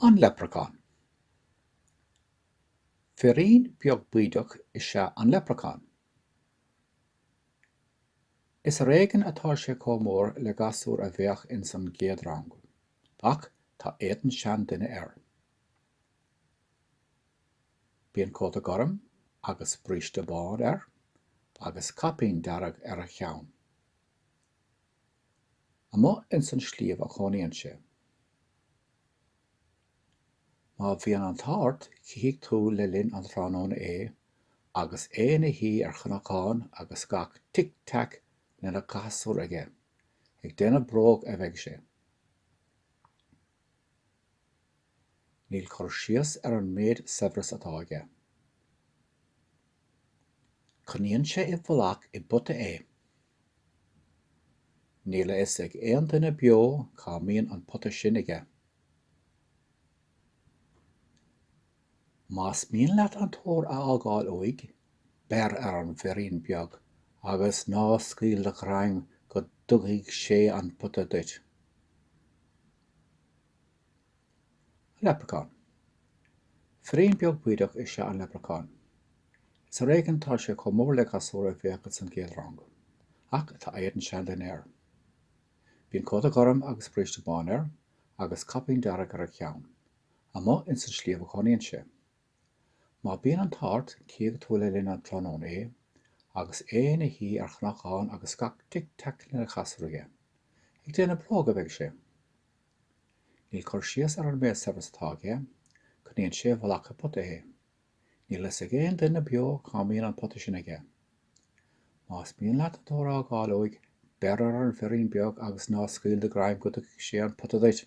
An Leipreachán Firín beag bídeach is ea an leipreachán. Is ar éigean atá sé chomh mór le gasúr a bheadh ins an gcéad rang, ach tá éadan seanduine air. Bíonn cóta gorm agus bríste bán air agus caipín dearg ar a cheann. Amuigh ins an sliabh a chónaíonn sé. Má bhíonn an t-ádh ort chífidh tú le linn an tráthnóna é agus é ina shuí ar chnocán agus gach tic-tac lena chasúr aige. Ag déanamh bróg a bheidh sé. Níl cur síos ar an méid saibhreas atá aige. Coinníonn sé i bhfolach i bpota é. Níl a fhios ag aon duine beo cá mbíonn an pota sin aige. Más mian leat an t-ór a fháil uaidh, beir ar an bhfirín beag agus ná scaoil do ghreim go dtugaidh sé an pota duit. Leipreachán. Firín beag bídeach is ea an leipreachán. Is ar éigean atá sé chomh mór le gasúr a bheadh ins an gcéad rang, ach tá éadan seanduine air. Bíonn cóta gorm agus bríste bán air, agus caipín dearg ar a cheann. Amuigh ins an sliabh a chónaíonn sé. Má bíonn an t-ádh ort, cífidh tú le linn an tráthnóna é, agus é ina shuí ar chnocán agus gach tic-teaic lena chasúr aige. Ag déanamh bróg a bheidh sé. Níl cur síos ar an méid saibhreas atá aige, coinníonn sé i bhfolach i bpota é. Níl a fhios ag aon duine beo cá mbíonn an pota sin aige. Más mian leat an t-ór a dh'fháil uaidh, beir ar an bhfirín beag agus ná scaoil do ghreim go dtugfaidh sé an pota duit.